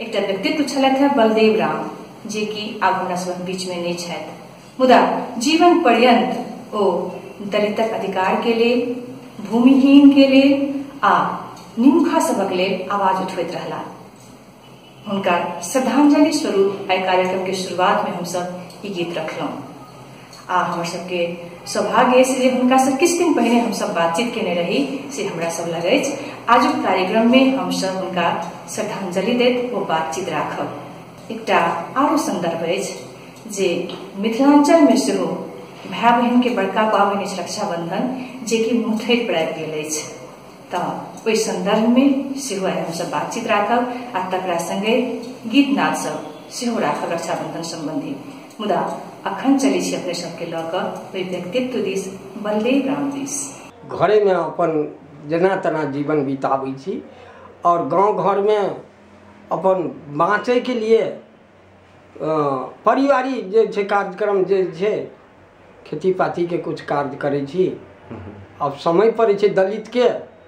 एकटा व्यक्तित्व छलथि हैं बलदेव राम जे कि आब हमरा सब बीच में नहीं छथि मुदा जीवन पर्यंत ओ दलितक अधिकार के लेल भूमिहीन के लेल आ निमुखा सबक लेल आवाज उठबैत रहला हुनका श्रद्धांजलि स्वरूप एहि कार्यक्रम के शुरुआत में हम सब ई गीत रखलहुं आ हमर सबके सौभाग्य अछि जे हुनकासँ किछु दिन पहिने हमसभ बातचीत केने रही से हमरा सब लग अछि आजुक कार्यक्रममे हमसभ हुनका श्रद्धांजलि दैत ओ बातचीत राखब एकटा आरो संदर्भ अछि जे मिथिलांचलमे सेहो भाय बहिनके बड़का पाबनि अछि रक्षाबंधन जेकि मुठै पर आबि गेल अछि तऽ ओहि संदर्भमे सेहो आइ हमसभ बातचीत राखब आ तकरा संगे गीत नाद सब सेहो राखब रक्षाबंधन संबंधी मुदा अखन चलै छी अपने सबके लऽ कऽ ओहि व्यक्तित्व दिस बलदेव राम दिस घरेमे अपन जेना तेना जीवन बिताबै छी आओर गाँव घरमे अपन बाँचैके लिए पारिवारिक जे छै कार्यक्रम जे छै खेती पातीके किछु कार्य करै छी आब समय पड़ै छै दलितके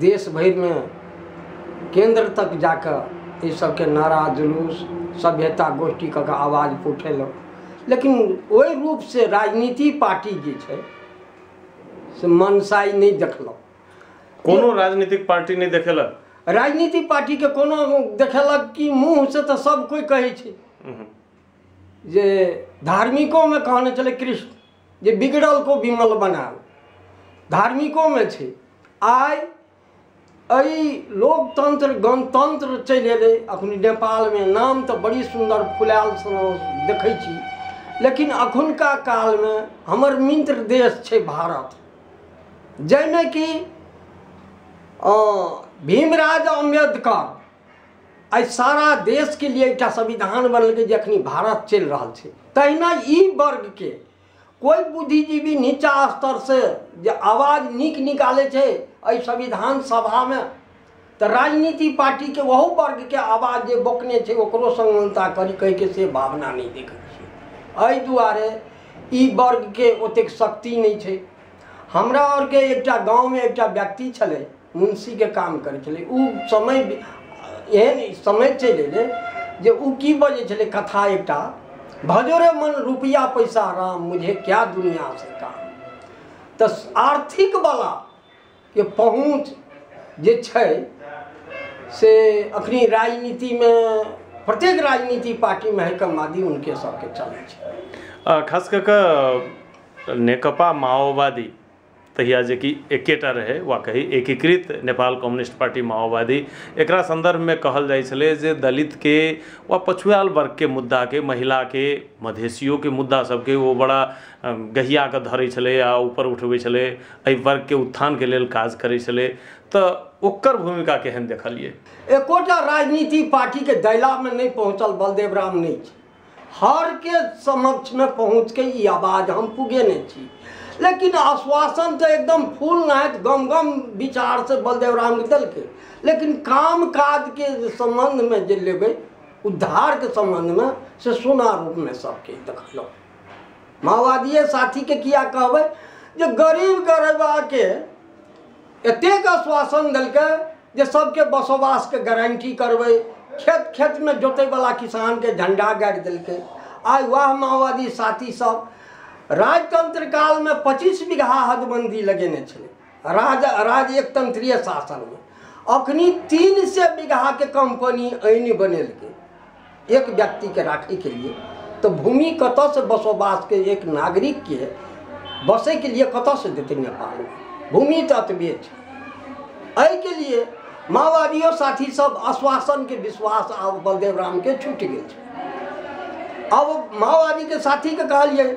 देश भरिमे केन्द्र तक जा कऽ एहि सभके नारा जुलूस सभ्यता गोष्ठी कऽ कऽ आवाज कऽ उठेलहुँ लेकिन ओहि रूपसँ राजनीति पार्टी जे छै से मनसाइ नहि देखलहुँ कोनो राजनीतिक पार्टी नहि देखेलक राजनीति पार्टीके कोनो देखेलक कि मुँहसँ तऽ सभ कोइ कहै छै जे धार्मिकोमे कहने छलै कृष्ण जे बिगड़ल को विमल बनाल धार्मिकोमे छै आइ एहि लोकतंत्र गणतंत्र चलि एलै अखन नेपालमे नाम तऽ बड़ी सुन्दर फुलायल देखै छी लेकिन अखुनका कालमे हमर मित्र देश छै भारत जाहिमे कि भीमराव अम्बेडकर आइ सारा देशके लिए एकटा संविधान बनलकै जे अखनी भारत चलि रहल छै तहिना ई वर्गके कोइ बुद्धिजीवी नीचा स्तरसँ जे आवाज नीक निकालै छै एहि संविधान सभामे तऽ राजनीति पार्टीके ओहो वर्गके आवाज जे बोकने छै ओकरो समानता करी कहिके से भावना नहि देखै छियै एहि दुआरे ई वर्गके ओतेक शक्ति नहि छै हमरा आरके एकटा गाँवमे एकटा व्यक्ति छलै मुन्शीके काम करै छलै ओ समय एहन समय चलि अयलै जे ओ की बजै छलै कथा एकटा भजोरे मन रुपैआ पैसा राम मुझे क्या दुनिया से काम तऽ आर्थिकवला के पहुँच जे छै से अखनी राजनीतिमे प्रत्येक राजनीति पार्टीमे है कमादी उनके सबके चलै छै अ, खास कऽ कऽ नेकपा माओवादी तहिया जे कि एकेटा रहै वा कही एकीकृत नेपाल कम्युनिस्ट पार्टी माओवादी एकरा सन्दर्भमे कहल जाइत छलै जे दलितके वा पछुआएल वर्गके मुद्दाके महिलाके मधेशियोके मुद्दा सभके ओ बड़ा गहिया कऽ धरैत छलै आ ऊपर उठबैत छलै एहि वर्गके उत्थानके लेल काज करैत छलै तऽ ओकर भूमिका केहन देखलियै एकोटा राजनीतिक पार्टीके दैलामे नहि पहुँचल बलदेव राम नहि छै हरके समक्षमे पहुँचके ई आवाज हम पुगेने छी लेकिन आश्वासन तऽ एकदम फूल नाहैत गम गम विचारसँ बलदेव रामके देलकै लेकिन काम काजके जे सम्बन्धमे जे लेबै उद्धारके सम्बन्धमे से सोना रूपमे सबके देखलहुँ माओवादिये साथीके किया कहबै जे गरीब गरीबाके एतेक आश्वासन देलकै जे सबके बसोबासके गारंटी करबै खेत खेतमे जोतैवला किसानके झंडा गाड़ि देलकै आइ वएह माओवादी साथी सब राजतंत्र कालमे पच्चीस बीघा हदबंदी लगेने छलै राज राज एक तंत्रीय शासनमे अखनी तीन सए बीघाके कंपनी आनि बनेलकै एक व्यक्तिके राखैके लिए तऽ भूमि कतऽसँ बसोबासके एक नागरिकके बसैके लिए कतऽसँ देतै नेपाल भूमि तऽ एतबे छै एहिके लिए माओवादियो साथी सब आश्वासनके विश्वास आब बलदेव रामके छुटि गेल छै आब माओवादीके साथीके कहलियै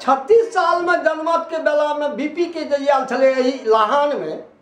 छत्तीस सालमे जनमतके बेलामे बी पी के जे आयल छलै एहि लहानमे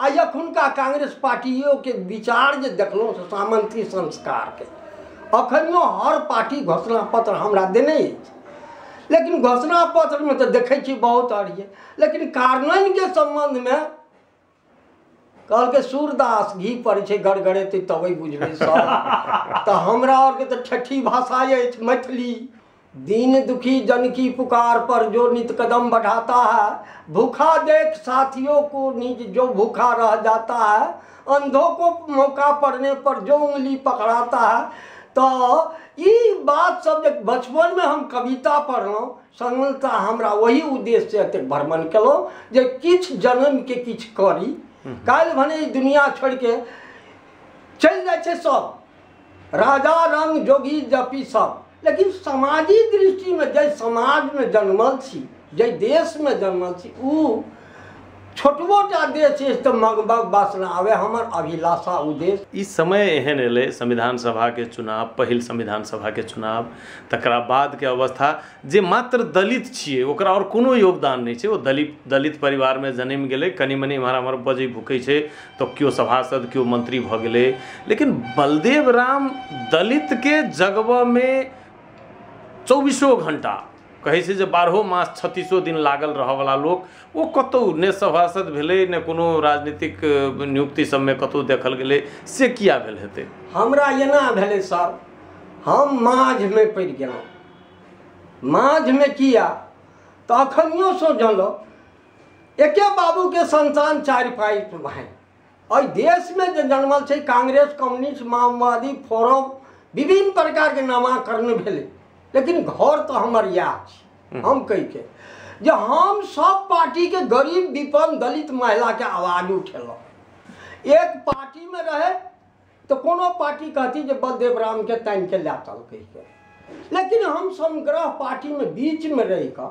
आ एखुनका कांग्रेस पार्टियोके विचार जे देखलहुँ से सामन्ती संस्कारके अखनियो हर पार्टी घोषणा पत्र हमरा देने अछि लेकिन घोषणा पत्रमे तऽ देखै छी बहुत अड़िए लेकिन कार्यान्वयनके सम्बन्धमे कहलकै सूरदास घी पड़ै छै गड़गड़ेतै तबै बुझबै सर तऽ हमरा आरके तऽ ठेठी भाषा अछि मैथिली दीन दुखी जन की पुकार पर जो नित कदम बढ़ाता है भूखा देख साथियों को निज जो भूखा रह जाता है अंधों को मौका पड़ने पर जो उंगली पकड़ाता है तो ई बात सब जे बचपनमे हम कविता पढ़लहुँ संगता हमरा ओही उद्देश्य एतेक भ्रमण केलहुँ जे किछु जन्मके किछु करी काल्हि भने ई दुनिया छोड़िके चलि जाइ छै सब राजा रंग जोगी जपी सब लेकिन समाजी दृष्टिमे जाहि समाजमे जन्मल छी जाहि देशमे जन्मल छी ओ छोटबो टा देश अछि तऽ मगबग वासना आवे हमर अभिलाषा ओ देश ई समय एहन एलै संविधान सभाके चुनाव पहिल संविधान सभाके चुनाव तकरा बादके अवस्था जे मात्र दलित छियै ओकरा आओर कोनो योगदान नहि छै ओ दलित दलित परिवारमे जन्म गेलै कनि मनि एम्हर आम्हर बजै भुकै छै तऽ केओ सभासद केओ मंत्री भऽ गेलै लेकिन बलदेव राम दलितके जगबऽमे चौबीसो घंटा कहै छै जे बारहो मास छत्तीसो दिन लागल रहऽवला लोक ओ कतौ ने सभासद भेलै ने कोनो राजनीतिक नियुक्ति सबमे कतौ देखल गेलै से किया भेल हेतै हमरा एना भेलै सर हम माझमे पड़ि गेलहुँ माझमे किया तऽ अखनियोसँ जानलहुँ एके बाबू के संतान चारि पाई भाई एहि देश में जे जन्मल छै कांग्रेस कम्युनिस्ट माओवादी फोरम विभिन्न प्रकार के नामाकरण भेलै लेकिन घर तो हमर इएह छै हम कहि के जे हम सब पार्टी के गरीब विपन्न दलित महिला के आवाज उठेलहुँ एक पार्टी में रहे तो कोनो पार्टी कहती जे बलदेव राम के तानि के ला चलकै लेकिन हम समग्रह पार्टी में बीच में रहि कऽ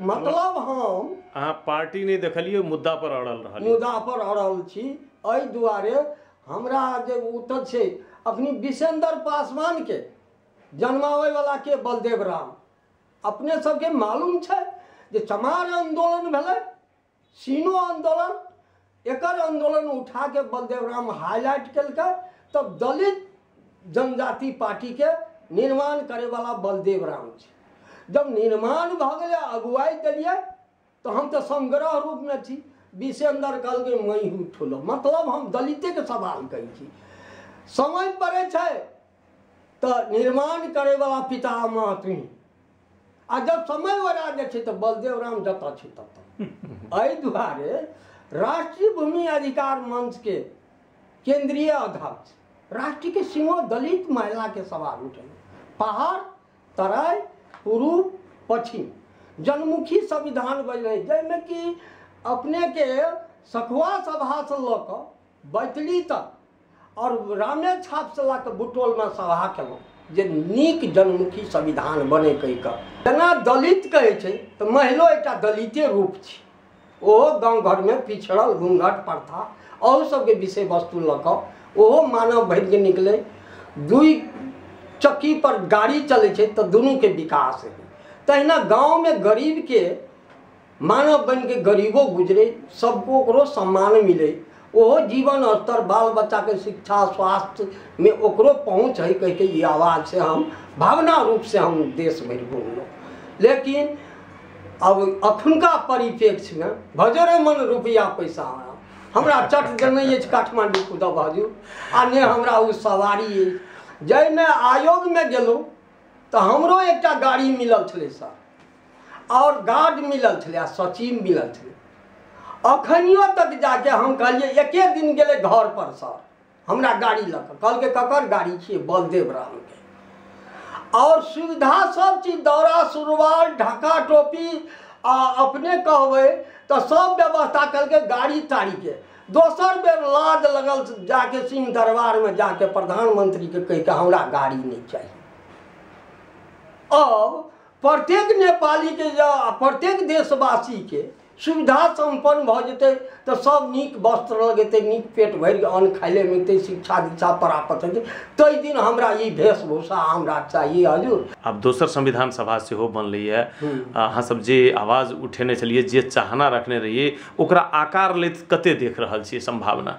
मतलब हम अहाँ पार्टी नहि देखलियै मुद्दा पर अड़ल रहल मुद्दा पर अड़ल छी एहि दुआरे हमरा जे उत्तर छै अपनी विशेंदर पासवान के जन्मावे वाला के बलदेव राम अपने सबके मालूम छै जे चमार आंदोलन भेलै सीनो आंदोलन एकर आंदोलन उठा के बलदेव राम हाईलाइट कलकै तब दलित जनजाति पार्टी के निर्माण करे वाला बलदेव राम छै जब निर्माण भऽ गेलै अगुवाई देलियै तो हम तो समग्रह रूप में छी विशेंदर कहलकै मैं हूँ ठुलो मतलब हम दलिते के सवाल कही छी समय पड़े छै तो निर्माण करे वाला पितामह तुही आ जब समय वरा जाइ छै तऽ बलदेव राम जतऽ छै ततऽ एहि दुआरे राष्ट्रीय भूमि अधिकार मंच के केंद्रीय अध्यक्ष राष्ट्रीय के सिंहो दलित महिला के सवाल उठल पहाड़ तराई पूर्व पश्चिम जनमुखी संविधान बनि रही जाहिमे कि अपने के सखुआ सभा से लऽ कऽ बैतडी तक आओर रामे छाप से लऽ कऽ बुटोलमे सभा केलहुँ जे नीक जनमुखी संविधान बने कहि कऽ जेना दलित कहै छै तऽ महिलो एकटा दलिते रूप छी ओहो गाँव घरमे पिछड़ल घूंघट प्रथा अहू सबके विषय वस्तु लऽ कऽ ओहो मानव भरि जे निकलै दुइ चक्की पर गाड़ी चलै छै तऽ दुनूके विकास हेतै तहिना गाँवमे गरीबके मानव बनि के गरीबो गुजरे सबको ओकरो सम्मान मिले ओहो जीवन स्तर बाल बच्चा के शिक्षा स्वास्थ्य में ओकरो पहुँच है कह के ये आवाज से हम भावना रूप से हम देश भरि घूमलहुँ लेकिन अब अखुनका परिप्रेक्ष्य में भजरे मन रुपया पैसा आया। हमरा चट देने अछि काठमांडू खुदा बाजू आ ने हमरा ओ सवारी अछि जाहिमे आयोगमे गेलहुँ तऽ हमरो एकटा गाड़ी मिलल छलै सर आओर गार्ड मिलल छलै आ सचिव मिलल छलै अखनियो तक जाके हम कहलियै एके दिन गेलै घर पर सर हमरा गाड़ी लऽ कऽ कहलकै ककर गाड़ी छियै बलदेव रामके आओर सुविधा सब चीज दौरा सुरवाल ढाका टोपी आ अपने कहबै तऽ सब व्यवस्था कलकै गाड़ी ताड़ीके दोसर बेर लाज लगल जाके सिंह दरबारमे जाके प्रधानमंत्रीके कहि कऽ हमरा गाड़ी नहि चाही अब प्रत्येक नेपालीके जँ आ प्रत्येक देशवासीके सुविधा सम्पन्न भऽ जेतै तऽ सभ नीक वस्त्र लगेतै नीक पेट भरि अन्न खाय लए मिलतै शिक्षा दीक्षा प्राप्त हेतै ताहि दिन हमरा ई वेशभूषा हमरा चाहिए हजूर आब दोसर संविधान सभा सेहो बनलैए आ अहाँसभ जे आवाज उठेने छलियै जे चाहना रखने रहियै ओकरा आकार लैत कतेक देख रहल छियै सम्भावना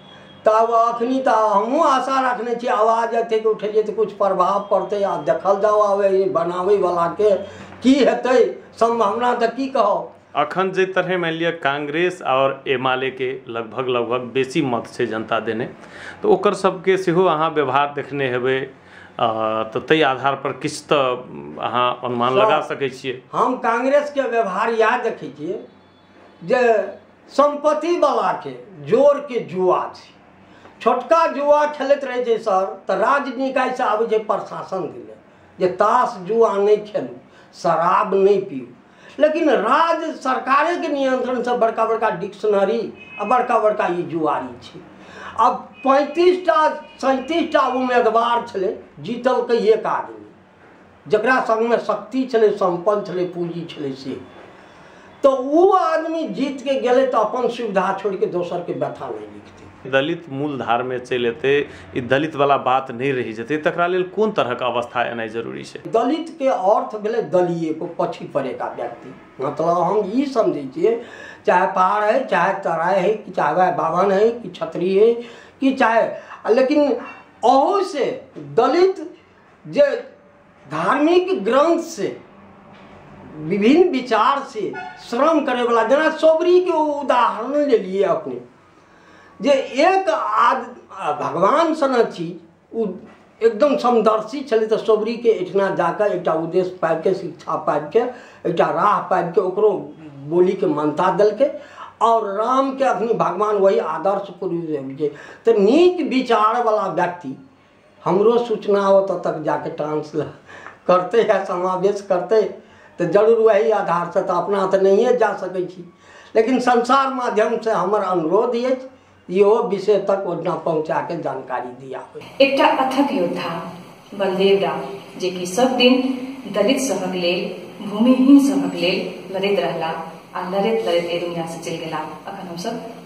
तऽ आब एखन तऽ हमहूँ आशा रखने छी आवाज एतेक उठेलियै तऽ किछु प्रभाव पड़तै आब देखल जाउ आब एहि बनाबयवलाके की हेतै सम्भावना तऽ की कहब अखन जाहि तरहे मानि लिअ कांग्रेस आओर एम आल ए के लगभग लगभग बेसी मत छै जनता देने तऽ ओकर सबके सेहो अहाँ व्यवहार देखने हेबै अ, तऽ ताहि आधार पर किछु तऽ अहाँ अनुमान लगा सकै छियै हम कांग्रेसके व्यवहार इएह देखै छियै जे सम्पत्ति बलाके जोरके जुआ छै छोटका जुआ खेलैत रहै छै सर तऽ राज्य निकायसँ आबै छै प्रशासन दिने जे ताश जुआ नहि खेलू शराब नहि पीऊ लेकिन राज्य सरकारेके नियन्त्रणसँ बड़का बड़का डिक्शनरी आ बड़का बड़का ई जुआरी छै आब पैंतीस टा सैंतीस टा उम्मीदवार छलै जीतलकै एक आदमी जकरा संगमे शक्ति छलै सम्पन्न छलै पूंजी छलै से तो वो आदमी जीत के गेले तो अपन सुविधा छोड़ के दोसर के व्यथा नहीं लिखते दलित मूल धार में चल एते दलित वाला बात नहीं रह जते तकरा लेल कोन तरह के अवस्था एना जरूरी है दलित के अर्थ भेले दलिये को पछी पड़े का व्यक्ति मतलब हम ये समझे छे चाहे पहाड़ है चाहे तराय है कि चाहे वह बावन है कि छत्री है कि चाहे लेकिन अहू से दलित जे धार्मिक ग्रंथ से विभिन्न विचार से श्रम करे वाला जेना सोबरी के उदाहरण ले लिए अपने जे एक आद भगवान सन छी ओ एकदम समदर्शी छलै तऽ सोबरीके एहिठिना जाकऽ एकटा उद्देश्य पाबि कऽ शिक्षा पाबि कऽ एकटा राह पाबि कऽ ओकरो बोलीके मान्यता देलकै आओर रामके अखनी भगवान वही आदर्श पुरुष जे तऽ नीक विचार बला व्यक्ति हमरो सूचना ओतऽ तक जाके ट्रांसलेट करतै आ समावेश करतै तऽ जरूर वही आधार से तऽ अपना तऽ नहिए जा सकै छी लेकिन संसार माध्यम से हमर अनुरोध अछि इहो विषय तक ओहिना पहुँचा के जानकारी दिया एकटा अथक योद्धा बलदेव राम जे कि सब दिन दलित सभक लेल भूमिहीन सभक लेल लड़ैत रहला आ लड़ैत लड़ैत एहि दुनिया से चलि गेला अखन हमसब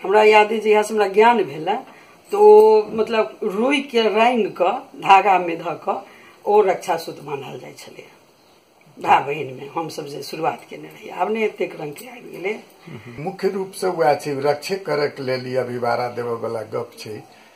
हमरा याद अछि जहियासँ हमरा ज्ञान भेलए तऽ ओ मतलब रुइके रानि कऽ धागामे धऽ कऽ ओ रक्षा सूत बान्हल जाइ छलै भाय बहिनमे हमसभ जे शुरुआत केने रही आब ने एतेक रंगके आबि गेलै मुख्य रूपसँ उएह छै रक्षे करयके लेल ई अभिवारा देबयवला गप छै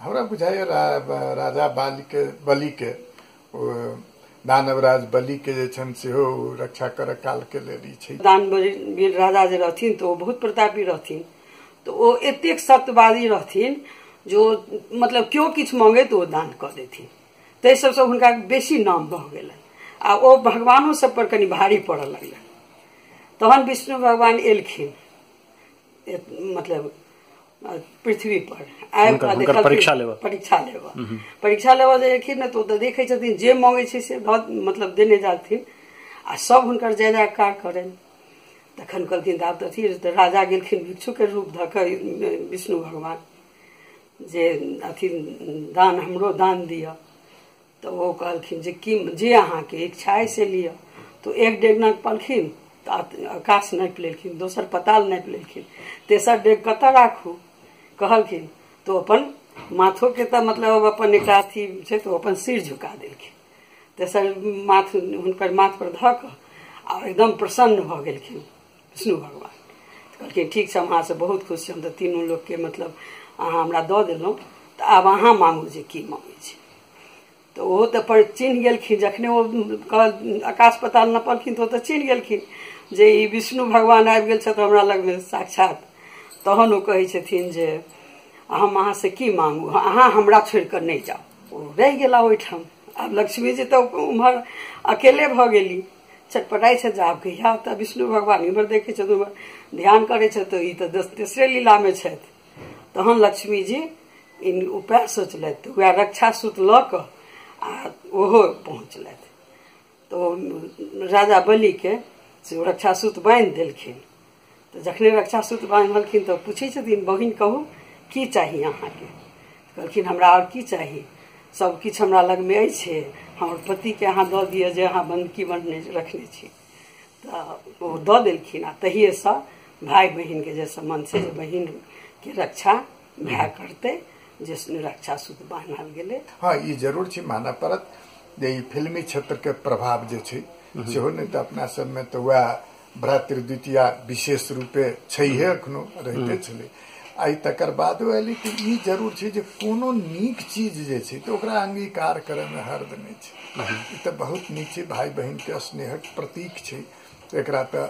हमरा बुझाइए राजा बालीके बलीके दानवराज बलीके जे छनि सेहो रक्षा करऽ कालके लेल ई छै दानवीर राजा जे रहथिन तऽ ओ बहुत प्रतापी रहथिन तऽ ओ एतेक सत्यवादी रहथिन जे ओ मतलब केओ किछु मांगे तऽ ओ दान कऽ देथिन ताहि सबसँ हुनका बेसी नाम भऽ गेलनि आ ओ भगवानो सब पर कनि भारी पड़ऽ लगलनि तहन विष्णु भगवान एलखिन मतलब पृथ्वी पर आबि कऽ देखलखिन परीक्षा लेबऽ परीक्षा लेबऽ परीक्षा लेबऽ जे एलखिन ने तऽ ओ तऽ देखै छथिन जे मांगे छै से मतलब देने जाथिन आ सब हुनकर जय जयकार करनि तखन कहलखिन आब तऽ अथी तऽ राजा गेलखिन भिक्षुके रूप धऽ कऽ विष्णु भगवान जे अथी दान हमरो दान दिअ तऽ ओ कहलखिन जे कि जे अहाँके इच्छा अइ से लिअ तऽ एक डेग नाग पलखिन तऽ आकाश नापि लेलखिन दोसर पताल नापि लेलखिन तेसर डेग कतऽ राखू कहलखिन तऽ अपन माथोके तऽ मतलब अपन एकटा अथी छै तऽ अपन सिर झुका देलखिन तेसर माथ हुनकर माथ पर धऽ कऽ आ एकदम प्रसन्न भऽ गेलखिन विष्णु भगवान तऽ कहलखिन ठीक छै हम अहाँसँ बहुत खुश छी हम तऽ तीनू लोकके मतलब अहाँ हमरा दऽ देलहुँ तऽ आब अहाँ मांगू जे की मांगै छै तऽ ओहो तऽ पर चिन्ह गेलखिन जखने ओ कहल- आकाश पताल नपलखिन तऽ ओ तऽ चिन्ह गेलखिन जे ई विष्णु भगवान आबि गेल छथि हमरा लगमे साक्षात तहन ओ कहै छथिन जे हम अहाँसँ की मांगू अहाँ हमरा छोड़ि कऽ नहि जाउ ओ रहि गेला ओहिठाम आब लक्ष्मीजी तऽ उम्हर अकेले भऽ गेली छटपटाइ छथि जे आब कहिया तऽ विष्णु भगवान इम्हर देखै छथि उम्हर ध्यान करै छथि तऽ ई तऽ तेसरे लीलामे छथि तहन लक्ष्मीजी इन उपाय सोचलथि तऽ उएह रक्षा सूत लऽ कऽ आ ओहो पहुँचलथि तऽ ओ राजा बलिके से ओ रक्षा सूत बान्हि देलखिन तऽ जखने रक्षा सूत्र बान्हलखिन तऽ पूछै छथिन बहिन कहू की चाही अहाँके कहलखिन हमरा आओर की चाही सब किछु हमरा लगमे अछि हमर पतिके अहाँ दऽ दिअ जे अहाँ बन्दकी बनने रखने छी तऽ ओ दऽ देलखिन आ तहिएसँ भाय बहिनके जे सम्बन्ध छै जे बहिनके रक्षा भए करतै जे रक्षा सूत्र बान्हल गेलै हँ ई जरूर छै मानऽ पड़त जे ई फिल्मी क्षेत्रके प्रभाव जे छै सेहो नहि तऽ अपना सबमे तऽ वएह भ्रातृद्वितीया विशेष रूपे छैहे एखनो रहिते छलै आई तकर बाद एलै कि ई जरूर छै जे कोनो नीक चीज जे छै तऽ ओकरा अंगीकार करयमे हर्द नहि छै ई तऽ बहुत नीक छै भाय बहिनके स्नेहक प्रतीक छै एकरा तऽ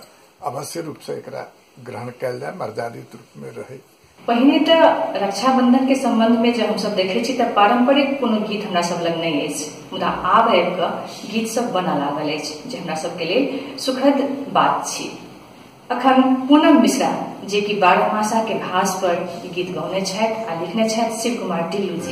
अवश्य रूपसँ एकरा ग्रहण कयल जाय मर्यादित रूपमे रहै पहिने तऽ रक्षाबंधन के संबंध में जब हमसब देखे छी तऽ पारंपरिक कोनो गीत हमरा सब लग नहीं अछि मुदा आब आबि कऽ गीत सब बनऽ लागल अछि जे हमरा सबके लेल सुखद बात छी अखन पूनम मिश्रा जे कि बारहमासा के भास पर ई गीत गौने छथि आ लिखने छथि शिव कुमार ढिल्लू जी